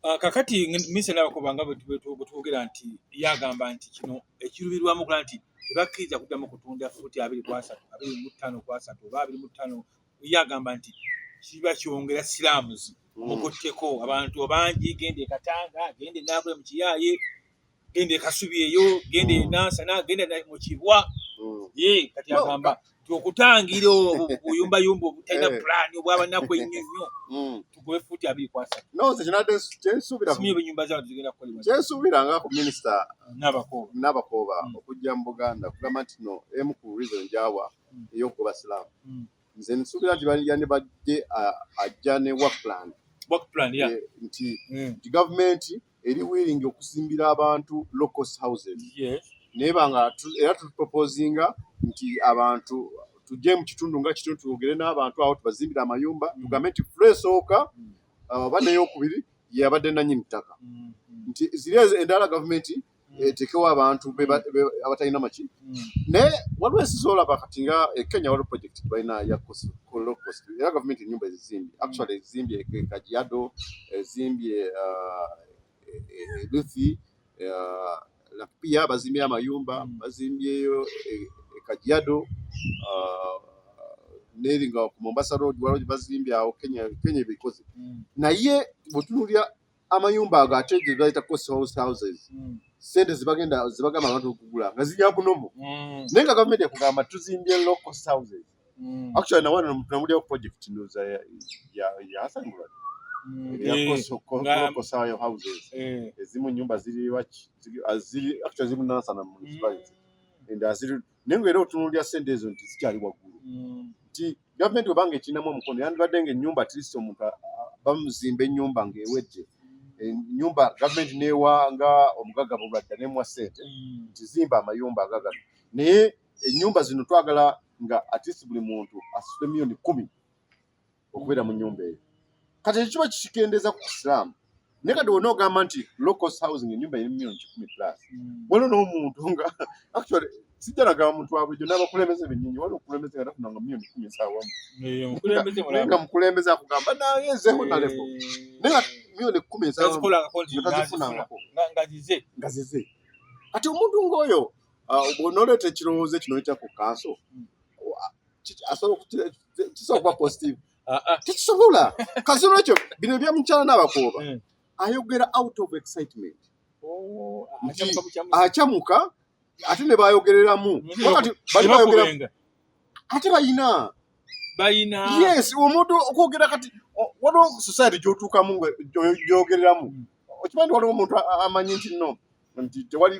Ah, kakati misala kubanga bwetwogera nti yagamba nti kino ekirubirwamu kula nti tebakkiriza kuddamu kutunda fuuti abiri kwasatu abiri mu ttaano kwasatu oba abiri mu ttaano yagamba nti kiba kyongera siraamuzi mm. mukutteko abantu bangi genda ekatanga genda enaakola mukiyaaye genda ekasubi eyo genda mm. enansana genda mukibwa mm. ye kati agamba nti okutangira obuyumbayumba obutalina eh. pulaani obwabanaku ennyo nnyo mm. tugobe fuuti abiri kwasa kyensuubira nga ku minisita nabakooba okujja mu buganda kugamba nti no emu ku reason gyawa eyokugoba silaamu nze nsuubira nti yandibadde ajja ne work plan work plan ya nti mm. gavumenti eri willing okuzimbira abantu low cost houses neba nga era tutuproposinga nti abantu tujje mu kitundu nga kitundu twogere n'abantu awo tubazimbire amayumba mm. tugambe nti fula esooka mm. uh, oba neyokubiri yabadde nanyini ttaka mm, nti ziri endala gavumenti etekewo abantu abatalina maki naye waliwo ensi zolaba kati nga ekenya waliwo project balina ya cost era gavumenti enyumba ezizimbye actually ezizimbye kajiado ezimbye uh, luthi uh, lakpia bazimbye amayumba bazimbyeyo ekajiado uh, neri nga ku mombasa road waliwo bazimbye awo kenya ebikoze mm. naye bwetunulira amayumba ago ate gye bayita cost house houses hmm. sente zibagenda zibagamba abantu okugula nga zirya kunomu hmm. naye nga gavumenti ekugamba tuzimbye low cost houses hmm. actually nawana tunamulyawo project ndoza yasangula yakosayo eh, houses eh. ezimu nyumba ziri waki ziri actually ziri munasana municipality and aziri naye nga era otunuulira ssente ezo nti zikyali waggulu mm. nti gavumenti webanga ekinamu omukono yandibadde nga ennyumba atlist omuntu bamuzimba ennyumba ng'ewedde ennyumba gavumenti neewa nga omugagga bulwadda nemuwa ssente mm. nti zimba amayumba agagano naye ennyumba zino twagala nga atlist buli muntu asuse miyoni kumi okubeera mu nyumba eyo kati ekyo kiba kikendeeza ku kisiraamu naye kati wona ogamba nti locos housing enyumba eri milioni kikumi plus hmm. waliwo n'omuntu nga actually sijja nagamba muntu wabulijo n'abakulembeze bennyini waliwo okulembeze nga tafunanga milioni kumi esawamu nga mukulembeze akugamba naye nzeho naleko naye milioni kumi esawamugazifunangako nga zize kati omuntu ng'oyo uh, bwonoleeta ekirowoozo ekino ekya ku kanso hmm. kisobola kuba positive ah, ah. tekisobola kasi olwekyo bino ebyamukyala n'abakooba hmm. ayogera out of excitement oh, acamuka ate ne bayogereramu ate bayina bayina yes omuntu okwogera kati waliwo society gyotuukamu gyogereramu hmm. okimanyi waliwo omuntu amanyi nti no nti tewali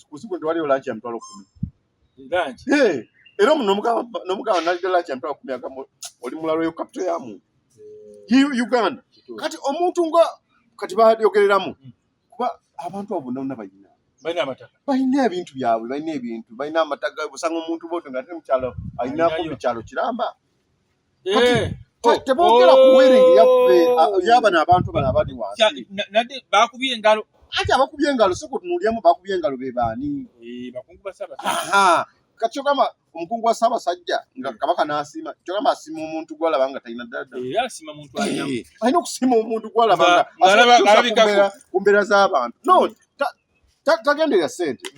kusiku nti waliwo lanki ya mitwalo kumi era omu nomugamba naddala nti ampera ku myaka oli mulalo yo kapito ya muntu uganda kati omuntu nga kati bayogereramu hmm. kuba abantu abo bonna bonna bayina balina ebintu byabwe balina ebintu balina amataga osanga omuntu boto nga ate mukyalo alina kumbi kyalo kiramba eh, oh, tebogera ku oh. wedding yaffe yabana abantu bano abali wansi nadde bakubye engalo ati abakubye engalo si kutunulyemu bakubye engalo be baani eh, bakungu ba ssaabasajja kati kyogamba omukungu wa ssaabasajja nga eh. kabaka n'asiima kyogamba asiima omuntu gwalaba nga talina ddadda alina okusiima omuntu gwalaba nga ku mbeera z'abantu no tagenderera sente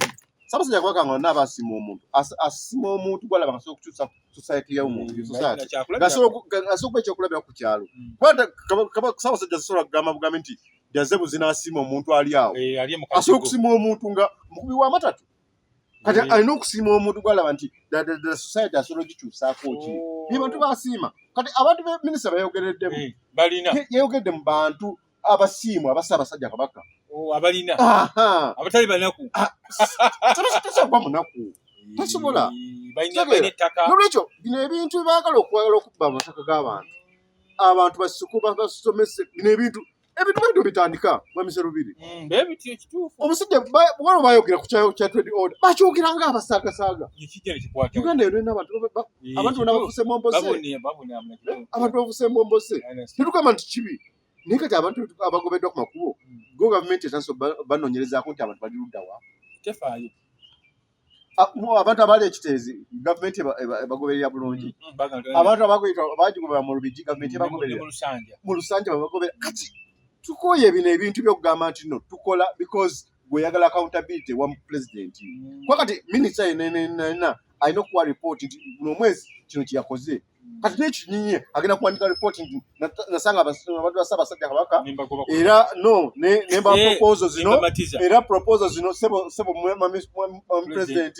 sabasajja kubaka nga olina abasima omuntu asima omuntu gwalaba ngasobola okukyusa society yomuntu mm, asobola okuba ekyokulabira ku kyalo mm. sabasajja zisobola kugamba bugambi nti jaze buzina asima omuntu ali awo eh, asobola okusima omuntu nga mukubi wa matatu kati eh. alina okusima omuntu gwalaba nti society asobola ogikyusaako ki oh. ye bantu basiima kati abantu beminisita bayogereddemu eh, yayogedde mu bantu abasiimu abasa abasajja kabaka oh, abalina abatali banaku ah, tasobola munaku tasobola nolwekyo bino ebintu byebagala okwagala okubba amataka g'abantu abantu basiku basomese bino ebintu ebintu baitu bitandika mwamise lubiri mm, omusajja wano bayogera ku kyatwedi order bakyogera nga abasaagasaaga uganda yolina abantu abantu bona bafuse mombose abantu bafuse mombose tetugamba nti kibi naye kati abantu abagobeddwa ku makubo go gavumenti esanso banoonyerezaako nti abantu bali luddawa tefaayo ah, abantu abaali ekiteezi gavumenti ebagoberera bulungi mm, mm, abantu abagigobera mu lubigi gavumenti ebagoberera mu lusanja babagobera kati tukooye bino ebintu byokugamba nti no tukola because gweyagala accountability wa pulezidenti mm. kuba kati minisita yenenenena alina okuwa ripooti nti buno omwezi kino kyeyakoze kati nekinyinye agenda kuwandika report nti nasanga abantu ba Ssaabasajja Kabaka era no nemba eh, proposal zino era proposal zino sebo sebo president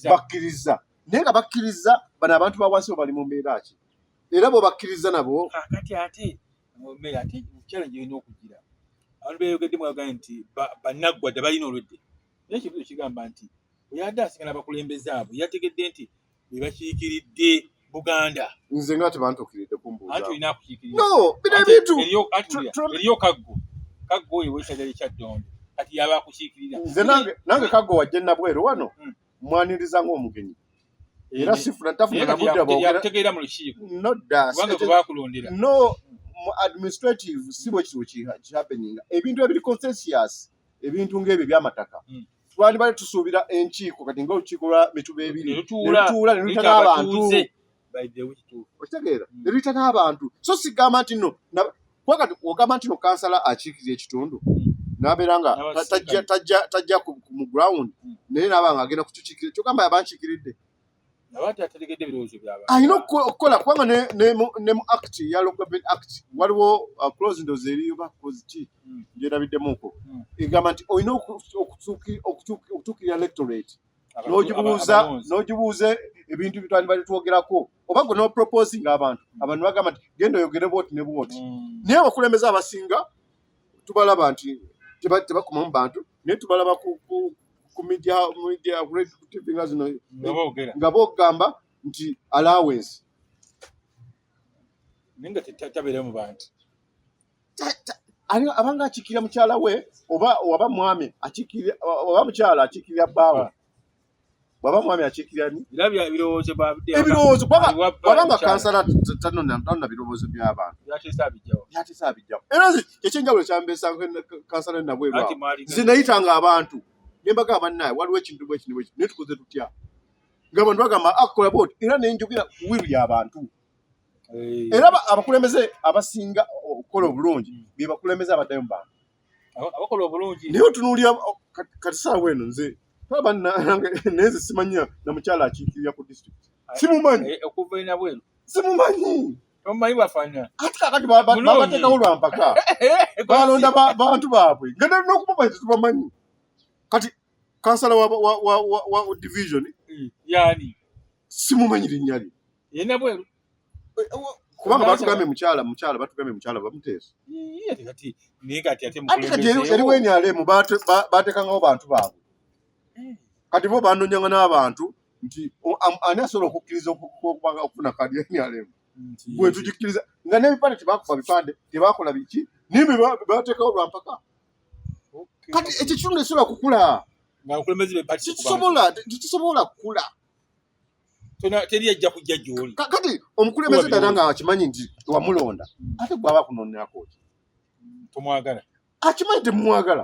bakkiriza naye nga bakkiriza bano abantu ba wansi bali mu mbeera ki era bo bakkiriza nabo ah, kati ate mbeera ate challenge erina okugira abantu beyogedde mwagaye nti banaggwa dde balina olwedde naye kibuzo kigamba nti oyadde asigana bakulembeze abo yategedde nti bebakiikiridde buganda nze nga tebantukiridde kumbuuzaeriyo kaggo kaggo oyo wesaja likyaddondo kati yaba akukiikirira nze nange kaggo wajje nabweru wano hmm. mwaniriza ngaomugenyi era sifuna tafuna nabudde bwotegeera mu lukiiko nodakubanga gwebakulondera no mu administrative si bwe kiri kihappeninga ebintu ebiri consensious ebintu ng'ebyo ebyamataka hmm. twandibadde tusuubira enkiiko kati nga olukiiko lwa mituba ebiri netutuula neluyita n'abantu okitegeera mm. neluyita n'abantu so sigamba nti no kwakati ogamba nti no kansala akiikirira ekitundu mm. nabeera nga tajja mu ground mm. naye naba nga agenda kutukiikirira kyogamba yabankiikiridde alina okukola kubanga ne mu act ya local act waliwo uh, close ndozi eriyo bakozi ki hmm. gyerabiddemuko hmm. egamba nti olina okutuukirira electorate nogibuuza nogibuuza ebintu bitwali bali twogerako oba gwe nopropose nga abantu hmm. abantu bagamba nti genda oyogere bwoti ne bwoti naye abakulembeze abasinga tubalaba nti tebakomamu bantu naye tubalaba ku media media great tv nga zino nga bogamba nti allowance ninga tetabere mu bantu ani abanga akikira mukyala we oba oba mwami akikira oba mukyala akikira baawe bwaba mwami akiikirira ni ebirowoozo bwaba nga kansala tanona birowoozo by'abantu byatesa abijjawo era ekyenjawulo kyambeesa kansala nabwebwa nze nayita nga abantu nembaga abannaye waliwo ekintu bwe kino bwekino naye tukoze tutya nga bantu bagamba akola ah, bwoti era nenjogera ku wiru y'abantu eh. era abakulembeze abasinga okukola obulungi mm. bebakulembeze abaddayo mu bantu abakola obulungi naye otunuulira kati saawa eno nze taba nange naye nze simanya na mukyala akiikirira ku disitulikiti simumanyi eh, okuva enabwenu simumanyi omumanyi bwafaanana ati kakati babateekawo lwa mpaka eh, balonda bantu baabwe nga nokubamanyi tetubamanyi kati kansala wa division hmm, yani simumanyi linnya lye yena bweru eh, eh, kubanga batugambye mukyala mukyala batugambye mukyala bamuteesa ate kati naye kati ate ate kati eri weni alemu batekangawo bantu baabwe eh. kati bo bandonyanga n'abantu nti ani asobola okukkiriza okufuna kadi eni alemu gwe tugikkiriza nga n'ebipande tebakuba bipande tebakola biki naye bebatekawo lwampaka kati ekyo kitundu esobola kukula tekisobola kukula teri ajja kujja gyoli kati omukulembeze dala nga akimanyi nti wamulonda ate gwaba kunonako tomwagala akimanyi temumwagala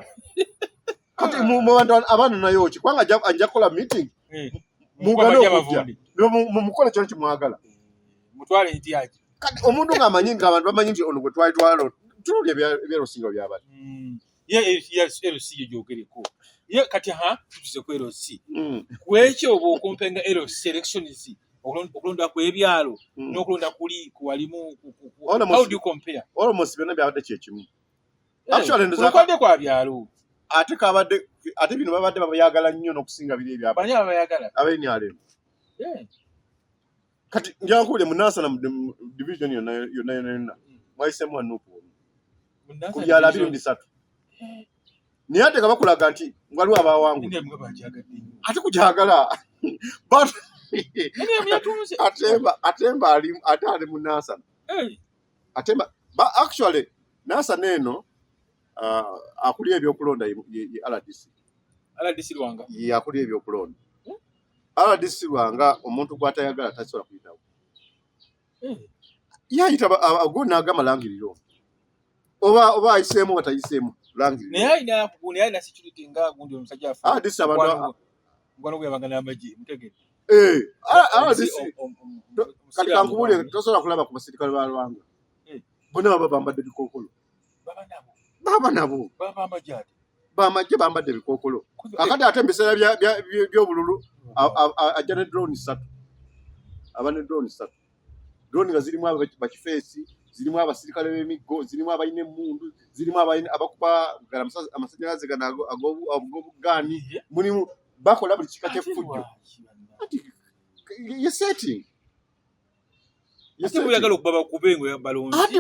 kati mubantu abaana nayo ki kubanga ajja kukola meeting eh, mugane okujja mumukola kyona kimwagala eh, mutwale nti aki kati omuntu ngaamanyi nti abantu bamanyi nti ono gwe twali twalo tululi ebyalusinga byabali hmm. ye LC yo gyogereko ye kati ha tutuze ku LC mm. kwekyo oba okumpenga LC elections okulonda kwebyalo mm. n'okulonda kuli kuwalimu how do you compare almost byonna byabadde kyekimu eh, actually ndozakwade kwa byalo ate kabadde ate bino babadde babayagala nnyo n'okusinga biri ebyabani abayagala abenyalemu eh. kati njankubule munansana mu division yonna yonna yonna mwayisemu wa nupu ku byalo abiri mu bisatu naye ate nga bakulaga nti waliwo abawangu ate kukyagala atemba atemba ali ate ali mu nansana atemba actually nansana eno uh, akulira ebyokulonda ye rdc rdc lwanga ye akulira ebyokulonda RDC Lwanga omuntu gwatayagala tasobola kuyitawo eh. yayita agwo nagamba langiriro oba oba ayiseemu oba tayiseemu kati kankubuulire tosobola kulaba ku basirikale ba Lwanga eh. bona baba bambadde bikookolo baba nabo bamajje bambadde ebikookolo kakati ate mubiseera byobululu ajja ne drone satu aba ne drone satu drone nga zirimu bakifeesi zirimu abasirikale b'emiggo zirimu abalina emmundu zirimu abakuba amasanyalaze gano ag'obugaani mulimu bakola buli kika ky'effujjo ye setting ate buyagala okuba bakube ngo balonzi ate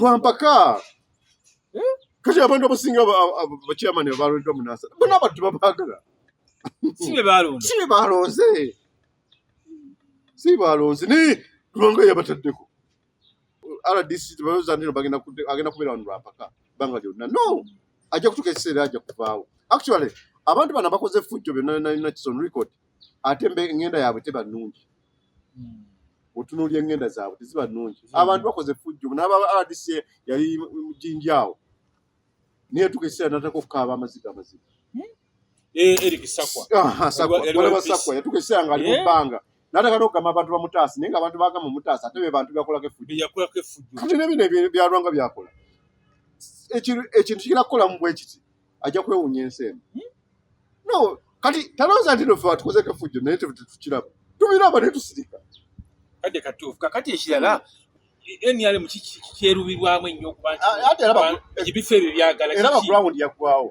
bampaka eh? kati abantu abasinga bakyamani abalondwa munasa bona abantu babagala sibe balonze sibe balonze sibe balonze ni kulonga yabataddeko rdc tebayoza ndino bagenda agenda kubeera wano lwampaka banga lyonna no ajja kutuka ekiseera ajja kuvaawo actually abantu bana bakoze effujjo byonna nalina kison record ate engenda yaabwe teba nnungi hmm. otunuulya engenda zaabwe teziba nnungi abantu bakoze fujjo naaba rdc yali mujinji awo naye tuka ekiseera nataka okukaaba amaziga amaziga hmm? eh, erikisakwa yatuka ekiseera ngaali mu eh? bbanga nataka nokugamba abantu bamutaasi naye nga abantu bagamba omutaasi ate be bantu byakolako efujjokati nebino byalwanga byakola ekintu kigenda kukolamu bwekiti ajja kwewunya ensi eno hmm? no kati talooza nti nofe watukozeko efujjo naye tetukiraba tubiraba ne tusirika kadde katuufu kakati ekirala nrm kyerubirwamu ennyo okuba nti ebifo ebyo byagala era bakulawundi yaggwawo